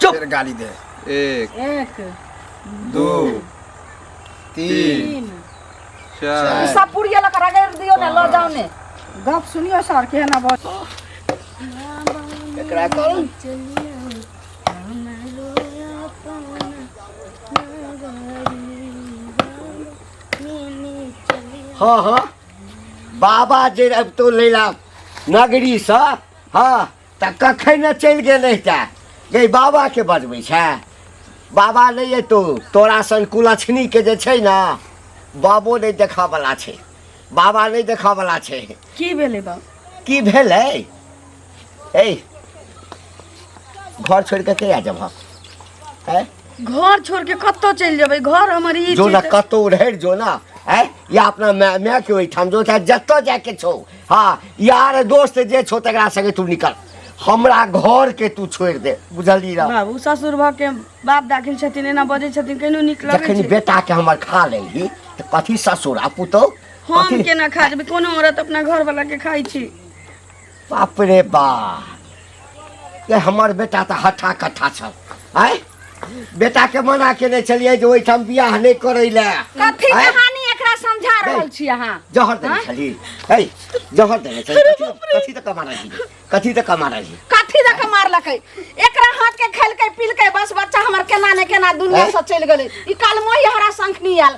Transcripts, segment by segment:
चुप फिर गाली दे एक एक दो तीन तीन चार सब पुड़िया लग रगड़ दियो ना लो जाओ ने गप सुनियो सर के ना बस एकरा कौन हाँ हाँ बाबा जे अब तो लैला नगरी सा हाँ तऽ कखन ने चलि गेल रहिते गई बाबाके बजबै छै बाबा नहि अयतौ तोरा सन कुलछनीके जे छै ने बाबो नहि देखऽवला छै बाबा नहि देखऽवला छै की भेलै बाप की भेलै ए घर छोड़ि कऽ कहिया जेबह आँय घर छोड़ के कतऽ चलि जेबै घर हमर ई जो छै ने तऽ- कतौ रहर जो ने आँय या अपना माय मायके ओहिठाम जो चाहे जतऽ जायके छौ हाँ यार दोस्त जे छो तकरा संगे तू निकल हमरा घर के तू छोड़ दे बुझली रह बाबू ससुर भऽ के बाप दाखिल छथिन एना बजै छथिन केहनो नीक लगै जखन छै बेटा के हमर खा लेली तऽ कथी ससुर आ पुतौ हम कथी केना खा जेबै कोनो औरत अपना घर वाला के खाइ छी बाप रे बाप जे हमर बेटा तऽ हट्ठा कट्ठा छल आय बेटाके मना केने छलियै जे ओहिठाम बियाह नहि करै लए कथी आँय? कहानी एकरा समझा रहल छी अहाँ जहर देने आँय? छली है जहर देने छली कथी कथी तऽ कमा रही कथी तऽ कमा रही कथी दऽ के मारलकै एकरा हाथ के खेलकै पिलकै बस बच्चा हमर केना ने केना दुनिया से चलि गेलै ई काल मोहि हमरा शंख नहीं आयल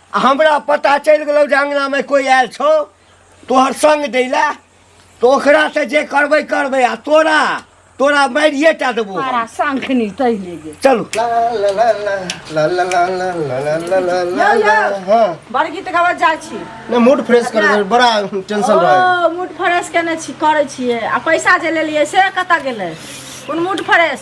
आ हमरा पता चलि गेलौ जे अङ्गनामे कोइ आयल छौ तोहर सङ्ग दै लए तऽ ओकरासँ जे करबै करबै आ तोरा तोरा मारिए टा देबो हम। मारा शंखनी तहि ले गेल चलू बड़ गीत गाबऽ जाइ छी ने मूड फ्रेश कर दे बड़ा टेंशन रहे ओ मूड फ्रेश केने छी करै छियै आ पैसा जे लेलियै से कतऽ गेलै कोन मूड फ्रेश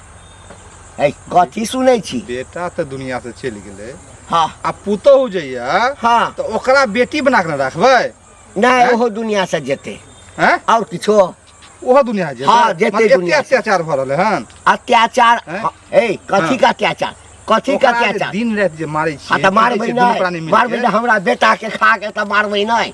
ऐ कथी सुनै छी बेटा तऽ दुनिया से चलि गेलै हाँ आ पुतोहु जे यऽ हाँ तऽ ओकरा बेटी बना कऽ ने राखबै नहि ओहो दुनिया से जेतै हैं और किछो ओहो दुनिया से जेतै हाँ, जेतै मतलब एते दुनिया से। अत्याचार भऽ रहलै हन अत्याचार हैं? हाँ, ए कथी का अत्याचार कथी का ओकरा जे अत्याचार दिन राति जे मारै हाँ छियै तऽ मारबै देखै छियै, दुनू प्राणी नहि मिल मारबै के। नहि हमरा बेटा के खा के तऽ मारबै नहि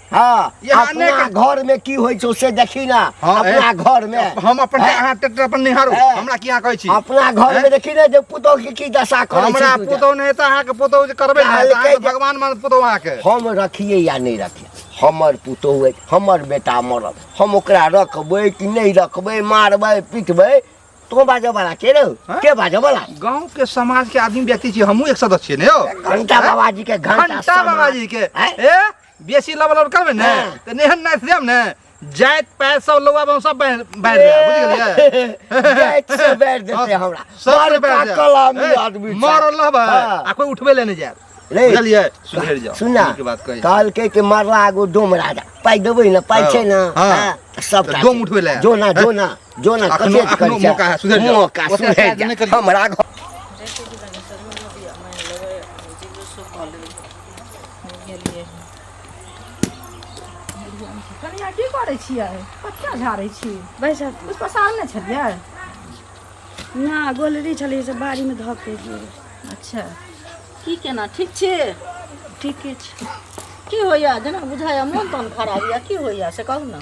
हाँ ये आने अपना के- घर में की होई छो से देखी ना हाँ, अपना ए। घर में हम अपन हैं? अहाँ ट्रैक्टर अपन निहारू ए। हमरा की अहाँ कहै छी अपना घर हैं? में देखी ना जे पुतोह के की दशा करे हमरा छी तू जा। पुतौ नहि तऽ अहाँके पुतौ जे करबै काहे ने तऽ अहाँके कहै- भगवान मान पुतौ अहाँके हम रखिए या नहीं रखिए हमर पुतोह है, हमर बेटा मरल हम ओकरा रखबै कि नहीं रखबै मारबै पीटबै तो बाजऽ वाला के रहो हैं? के बाजऽ वाला गाँव के समाज के आदमी व्यक्ति छी हमहूँ एक सदस्य छियै ने यौ घंटा बाबा जी के घंटा घंटा बाबा जी के हैं? ए बेसी लबल और करबे ने हाँ। त नेहन नाच देम ने जात पात सब लोग अब हम सब बैठ बैठ जाए बुझ गेलिए जाइत से बैठ देते हमरा सब बड़ बैठ जाए। पाकल आदमी ए, आदमी छै। मरल रहबे हाँ। आ कोई उठबे ले नहीं जाए रे, बुझलिए सुधर जाओ सुना नीक बात कही कहलकै कि मरला आगो डोम राजा पाइ देबै ने पाइ हाँ, छै ने हाँ। हाँ, तऽ सबटा डोम उठबै लए। जोना जोना जो ना अखनो- कतेक अखनो करै छै। मौका है, सुधरि जाउ। मौका ओते सुधरि काज जा। नहि करियौ। हमरा घर कनिया की करै छियै कथिया झाड़ै छी बैस कुछ पसार नहि छलियै ना गोलरी छलै से बाड़ी में धऽ के गेल अच्छा की केना ठीक छी ठीके छै की होइया जेना बुझाइया मोन तन खराब यऽ की होइया से कहू ने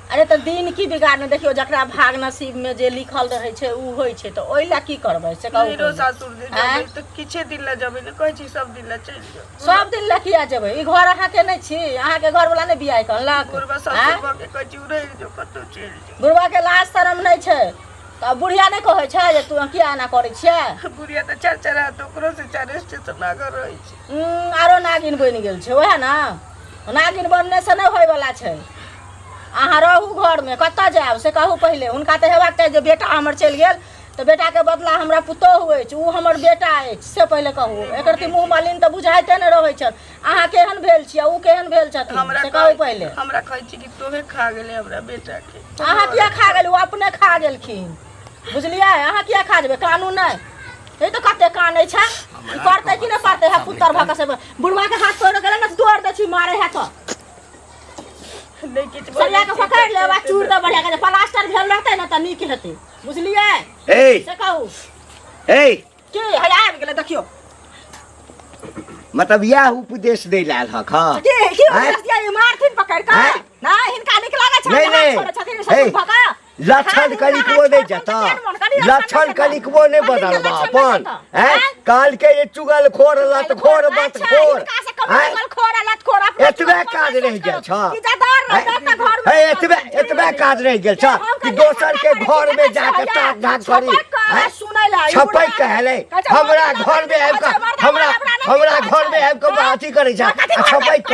अरे तऽ दिन की बिगाड़ने देखियो जकरा भाग नसीब में जे लिखल रहे छै उ होय छै तऽ ओइ ला की करबै से कहू मेरो सासुर जे जेबै तऽ किछे दिन लए जेबै ने कहै छी सब दिन लए चलि जाउ सब दिन लए किया जेबै ई घर अहाँ के नहि छी अहाँ के घर वाला नहि बियाह कहलक बुढ़बा सासुर भऽ के कहै छी उड़ै जो कतौ चलि जाउ बुढ़वा के लाज शरम नहि छै तऽ बुढ़िया नहि कहै छै जे तू किया एना करै छियै बुढ़िया तऽ चार चार हाथ ओकरो से चार स्टेशन लागल रहै छै आरो नागिन बनि गेल छै ओएह ने नागिन बनने से नहि होय वाला छै अहाँ रहू घरमे कतऽ जायब से कहू पहिले हुनका तऽ हेबाक चाही जे बेटा हमर चलि गेल तऽ बेटाके बदला हमरा पुतोहु अछि ओ हमर बेटा अछि से पहिले कहू एकर ती मुँह मालिन तऽ बुझाइते ने रहै छल अहाँ केहन भेल छियै ओ केहन भेल छथिन हमरा से कहू कहै- पहिले हमरा कहै छी कि तोहे खा गेले हमरा बेटा के अहाँ किया खा गेल ओ अपने खा गेलखिन बुझलियै अहाँ किया खा जेबै कानून नहि ई तऽ कते कानै छै ई करतै कि नहि करतै है पुत्तर भऽ कऽ से बुढ़वा के हाथ पकड़ गेलै ने तोड़ दै छी मारै है तऽ नहीं किछ बोले सरिया के छी, पकड़ ले बा चूड़ दे बढ़िया के जे प्लास्टर भेल रहते ना त नीक हेते बुझलिए ए से कहू ए के है आबि गेलै देखियो मतलब यह उपदेश दे लाल हक हाँ के के आँय? उपदेश दिया ये मारथिन पकड़ के आँय? ना हिनका नीक लागै छै नहीं, हाथ नहीं। छोड़ै छथिन ए। सब भगा लक्षण कनिकबो नहि जता लक्षण कनिकबो नहि बदलबा अपन हैं काल के ये चुगल खोर लत खोर बत खोर हैं एतबे काज रह गेल छ हे एतबे एतबे काज रह गेल छ कि दोसर के घर में जाके ताक धाक करी छपै कहले हमरा घर में आबि के हमरा हमरा घर में आबि के अथी करै छ छपै क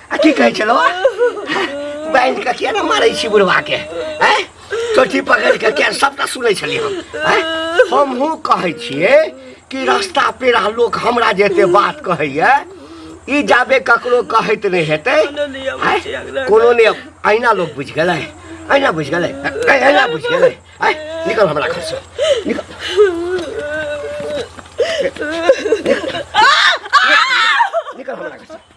आ की कहै छलो बांध के किया न मारै छी बुढ़वा के हैं चोटी पकड़ के किया सबटा सुनै छली हम हैं हमहु कहै छियै कि रास्ता पेरा लोक हमरा जे एते बात कहैया ई जाबे ककरो कहैत नहि हेतै हैं? कोनो ने अहिना लोक बुझि गेलै अहिना बुझि गेलै अहिना बुझि गेलै हैं? निकल हमरा घर से निकल निकल हमरा घर से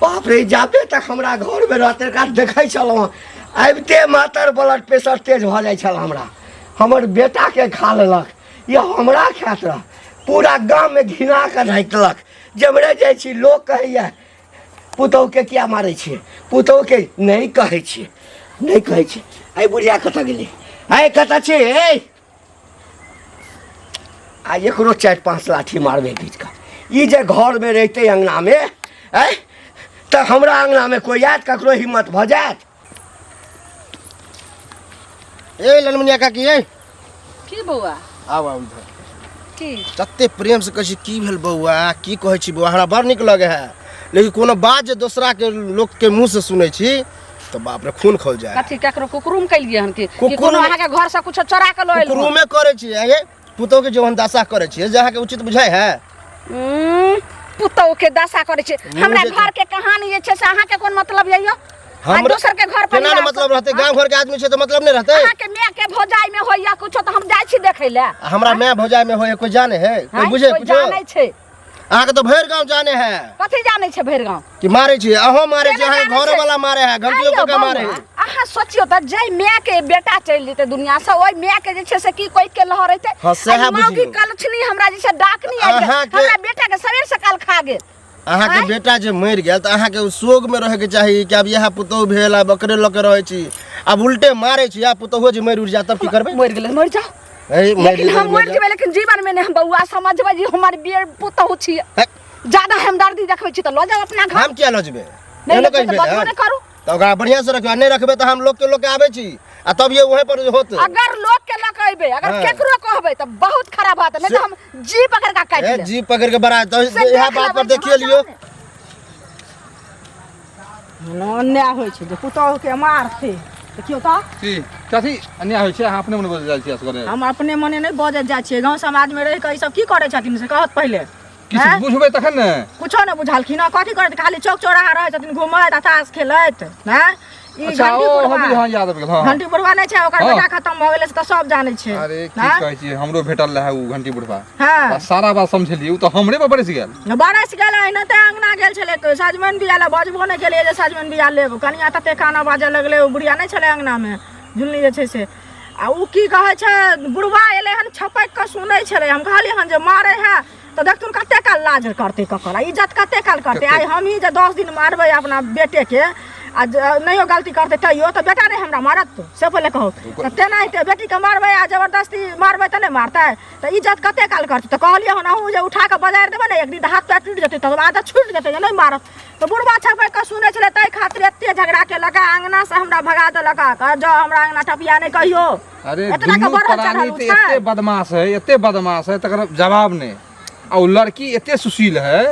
बाप रे जाबे तक हमरा घरमे रहते काल देखै छलहुँ हँ, आबिते मातर ब्लड प्रेशर तेज भऽ जाइ छल हमरा हमर बेटाके खा लेलक या हमरा खाइत रह पूरा गाममे घिना कऽ राखलक जेमरे जाइ छी लोक कहैए पुतहुके किया मारै छियै पुतहुके नहि कहै छियै नहि कहै छियै आइ बुढ़िया कतऽ गेलै आइ कतऽ छै ए आ एकरो चारि पाँच लाठी मारबै बीचका ई जे घरमे रहितै अङ्गनामे आँय तऽ हमरा अङ्गनामे कोइ आयत ककरो हिम्मत भऽ जायत ए ललमुनिया काकी ए की बौआ आउ आउ इधर की तते प्रेम से कहै छी की भेल बौआ की कहै छी बौआ हमरा बड़ नीक लगे है लेकिन कोनो बात जे दोसरा के लोक के मुंह से सुनै छी तो बाप रे खून खोल जाए कथी केकरो कुकुरुम कैलिए हन कि कि कोनो अहाँ के घर से कुछ चोरा के लइल कुकुरुम में करे छी ये पुतो के जोहन दशा करे छी जे अहाँ के उचित बुझाय है हम्म, पुतौ के दशा करे छी हमरा घर के कहानी जे छै से अहाँ के कोन मतलब यऽ यो हम दोसर के घर पर ना मतलब रहते गांव घर के आदमी छै तो मतलब नहीं रहते अहाँ के माय के भौजाई में होइया कुछ तो हम जाय छी देखे ले हमरा माय भौजाई में होइया कोई जाने है कोई बुझे कुछ जाने छै अहाँके तो भरि गांव जाने है कथी जाने छे भरि गांव कि मारे छी अहो मारे छी अहाँ घर वाला मारे है घंटियो को के मारे है अहाँ सोचियो त जय माय के बेटा चल जेते दुनिया से ओय माय के जे छे से की कोइ के लहर हेते हां से है बुझियो की कलछनी हमरा जे छे डाकनी आ हमरा बेटा के सवेर से काल खा गेल अहाँ के बेटा जे मर गेल त अहाँ के सोग में रहे के चाहिए कि अब यह पुतौ भेल आ बकरे लके रहे छी अब उल्टे मारे छी आ पुतौ जे मर उड़ जा तब की करबे मर गेल मर जाओ अरे मैं लेकिन हम मर जेबै लेकिन जीवन में नहीं हम बउआ समझबै जे हमर बेर पुतहु छी ज्यादा हम दर्दी देखबै छी त ल जाउ अपना घर हम किया ल जेबै नहीं एहनो लेकिन कहि बजबो भेलै। नहीं करू तऽ ओकरा बढ़िया से रखबै आ नहि रखबै तऽ हम लोग के लोग के आबै छी आ तब ये उहे पर होत अगर लोग के लक अइबै अगर हाँ। केकरो कहबै त बहुत खराब बात है नहीं तो हम जी पकड़ का काट ए, ले जी पकड़ के बड़ा तो से इएह देख बात पर लेबै देखिए लियो सामने। अन्याय होइ छै जे पुतहुके मारतै तऽ केओ तऽ की कथी अन्याय होइ छै अहाँ अपने मने बजल जाइ छी असगरे हम अपने मने नहि बजत जाइ छियै गाँव समाजमे रहि कऽ ई सब की करै छथिन से कहत पहिले किछु आँय? बुझबै तखन ने कुछो नहि बुझलखिन हँ कथी करैत खाली चौक चौराहा रहै छथिन घुमैत आ ताश खेलैत हैं ई अच्छा घंटी ओ हम बुढ़वा हँ याद आबि गेल हँ घंटी बुढ़वा नहि छै ओकर हँ। बेटा खत्म भऽ गेलै से तऽ सब जानै छै अरे की हैं? कहै छियै हमरो भेटल रहै ओ घंटी बुढ़वा हाँ सारा बात समझलिए तो हमरे पर बरस गेल बरस गेल एना ते अंगना गेल छले तो सजमन बिया ले बजबो ने केले जे सजमन बिया लेब कनिया तते काना बाजे लगले ओ बुढ़िया नै छले अंगना में झुलनी जे छै से आ उ की कहै छै बुढ़वा एले हन छपक के सुनै छले हम कहलिए हन जे मारे है तो देख तुन कते काल लाज करते ककर इज्जत कते काल करते आइ हम ही जे 10 दिन मारबै अपना बेटे के आ नहियो गलती करते तैयो तो बेटा रे हमरा मारत से पहिले कहू तेनाहिते बेटी के मारबै आ जबरदस्ती मारबै तऽ नहि मारतै तऽ इज्जत कते काल करतै तऽ कहलियै हन अहूँ जे उठा कऽ बजारि देबै ने एक दिन तऽ हाथ पैर टूटि जेतै तकर बाद छूटि जेतै जे नहि मारत तऽ बुढ़बा छपै कऽ सुनै छलै ताहि खातिर एते झगड़ा केलक आ अङ्गनासँ हमरा भगा देलक आ कहल जाउ हमरा अङ्गना टपिया नहि कहियो अरे एतना के दुनू बढ़ल प्राणी चढ़ल तऽ उठा। एते बदमाश है एते बदमाश है तकर जवाब नहि आ ओ लड़की एते सुशील है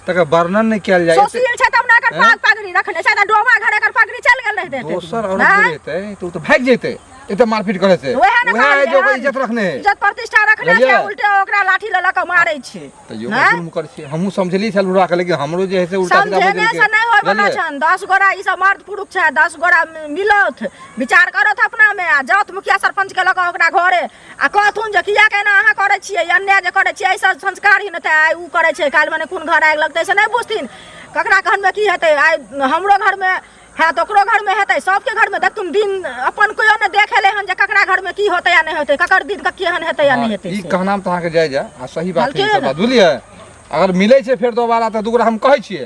तकर वर्णन नहि कयल जाय एते- सोसिल छै तब ने एकर पाग पगड़ी रखने छै तऽ डोमा घर एकर पगड़ी चलि गेल रहतै एते दोसर दिन। औरत आँय? जे रहतै तऽ ओ तऽ भागि जेतै एते मारपीट करे से वएह ने वएह जे ओकर कहलियै इज्जत रखने है इज्जत प्रतिष्ठा रखने छै बुझलियै? उल्टे ओकरा लाठी लऽ लऽ कऽ मारै छै तऽ यो आँय? जुल्म करै छियै हमहूँ समझलियै छल बुढ़ाके लेकिन हमरो जे है से उल्टा सीधा समझेने बजलकै। से नहि होय बला बुझलियै? छन दस गोरा ई सब मर्द पुरुष छै दस गोरा मिलौथ विचार करौथ अपना मे आ जाउथ मुखिया सरपंच के लऽ कऽ ओकरा घरे आ कहथुन जे किया केना अहाँ करै छियै अन्याय जे करै छियै एहिसँ संस्कार ही नहि आइ ओ करै छै काल्हि मने कोन घर आगि लगतै से नहि बुझथिन ककरा घरमे की हेतै आइ हमरो घरमे हैत ओकरो घरमे हेतै सभके घरमे देखथुन दिन अपन केओ नहि देखेलै हन जे ककरा घरमे की होतै या नहि होतै ककर दिन के केहन हेतै या नहि हेतै ई कहना तऽ अहाँके जाय जाय आ सही बात छै बुझलियै अगर मिलै छै फेर दोबारा तऽ दूगरा हम कहै छियै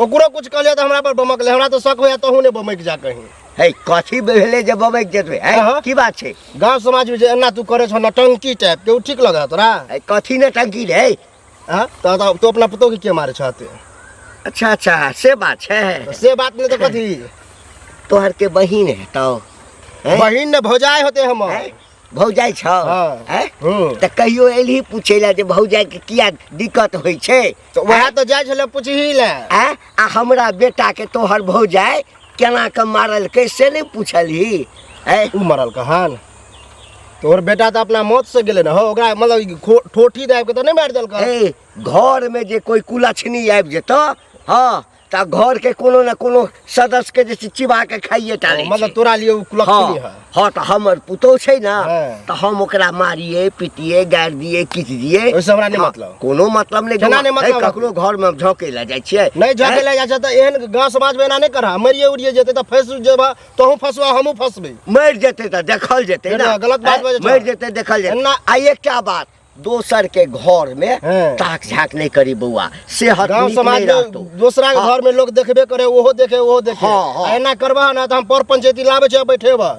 ओकरो कुछ कहलियै तऽ हमरा पर बमक ले हमरा तऽ शक होइया तहूँ ने बमक जा कहीं है कथी भेलै जे बबैक जेतबै है अहाँ? की बात छै गांव समाज में जे एना तू करे छो नटंकी टाइप के उ ठीक लगा तोरा है कथी ने टंकी रे है? हाँ तो तो- तू अपना पुतोह के के मारे छाते अच्छा अच्छा से बात छै से बात नहीं तो कथी तोहर के बहिन हेतौ हैं? बहिन ने भौजाई होते हम हैं? भौजाई छौ हाँ। हैं? हूँ तऽ कहियो एलही पूछे लए जे भौजाई के किया दिक्कत होइ छै तो वह तो जाय छले पूछही ले हैं? आ हमरा बेटा के तोहर भौजाई केना के मारलकै से नहि पूछलही हैं? उ मरल कहन तोहर बेटा तो अपना मौत से गेले ना हो ओकरा मतलब ई खो- ठोठी दाब के तो नहीं मार देल कर ए घर में जे कोई कुलछनी आबि जेतौ हँ तऽ घर के कोनो ने कोनो सदस्य के जे छै चिबा के खाइए टा लै मतलब छै। तोरा लिए उ कुलक हाँ, है हाँ तऽ हमर पुतोह छै ने हाँ। तऽ हम ओकरा मारिए पीटिए गारि दिए किच दिए ओइसँ हमरा नहि हाँ, मतलब। कोनो मतलब नहि केना नहि मतलब? ककरो घर में झोंके लए जाइ छियै नहीं जाके हैं? ले जा त एहन गांव समाज में एना नहीं करा मरिए उड़िए जेते त फंस जेबा तोहू फंसवा हमहू फंसबे मरि जेतै तऽ देखल जेतै फेर ने गलत बात हैं? बाजै छौ। मरि जेतै देखल जेतै एना- आ एकटा बात दोसर के घर में हाँ। ताक झाक नहीं करी बउआ सेहत गांव नीक समाज नहीं में रहतो। दोसरा के हाँ। घर में लोग देखबे करे ओहो देखे ओहो देखे हाँ, हाँ। आ एना करबा ना त हम पर पंचायती लाबे छै बैठेबा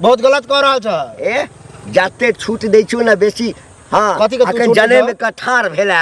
बहुत गलत कह रहल छ ए जाते छूट दै छियौ ने बेसी हाँ कथी के तू अखन छूट जने दऽ? में कठार भेला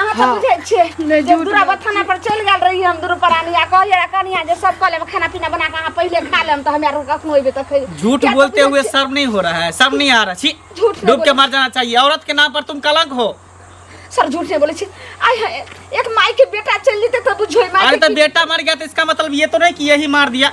अहाँ तऽ बुझै छियै नहि, जे झूठ दूरा बात बथाना पर चलि गेल रही हम दुनू प्राणी आ कहलियै कनिया जे सब कऽ लेब खाना पीना बना कऽ अहाँ पहिले खा लेब तऽ हमरा कखनो अयबै तऽ खै झूठ किया तऽ बोलते बुझै हुए छियै, शर्म नहीं हो रहा है शर्म नहीं आ रहा छी झूठ नहीं डूब के बोले। मर जाना चाहिए औरत के नाम पर तुम कलंक हो सर झूठ नहीं बोले छी आय हाय, एक माई के बेटा चल जेते तऽ बुझो माई अरे के तो की- बेटा मर गया तो इसका मतलब ये तो नहीं कि यही मार दिया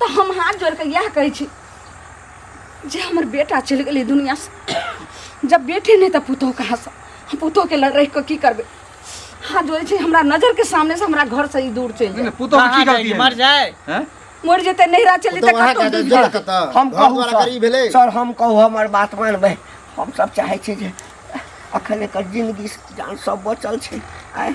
तऽ हम हाथ जोड़ कऽ इएह कहै छी जे हमर बेटा चलि गेलै दुनिआँसँ जब बेटे नहि तऽ पुतहु कहाँसँ हम पुतहुके लड़ रहि कऽ की करबै हाथ जोड़ै छै हमरा नजरके सामनेसँ हमरा घरसँ ई दूर चलि जाय पुतहु की गलती मर जाए मर जेतै नैहरा चलि जेतै कतहु दूर जाय हम कहू सर हम कहू हमर बात मानबै हमसभ चाहै छी जे अखन एकर जिन्दगी जान सब बचल छै आइ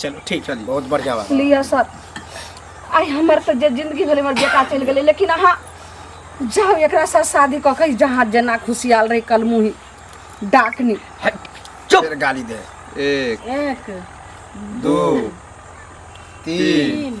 चलो ठीक चल बहुत बढ़िया बात लिया सर आई हमर तो जे जिंदगी भले हमर बेटा चल गेले लेकिन अहाँ जाओ एकरा साथ शादी कऽ के जहाँ जेना खुशियाल रही कल मुही डाकनी चुप फिर गाली दे एक एक दो तीन तीन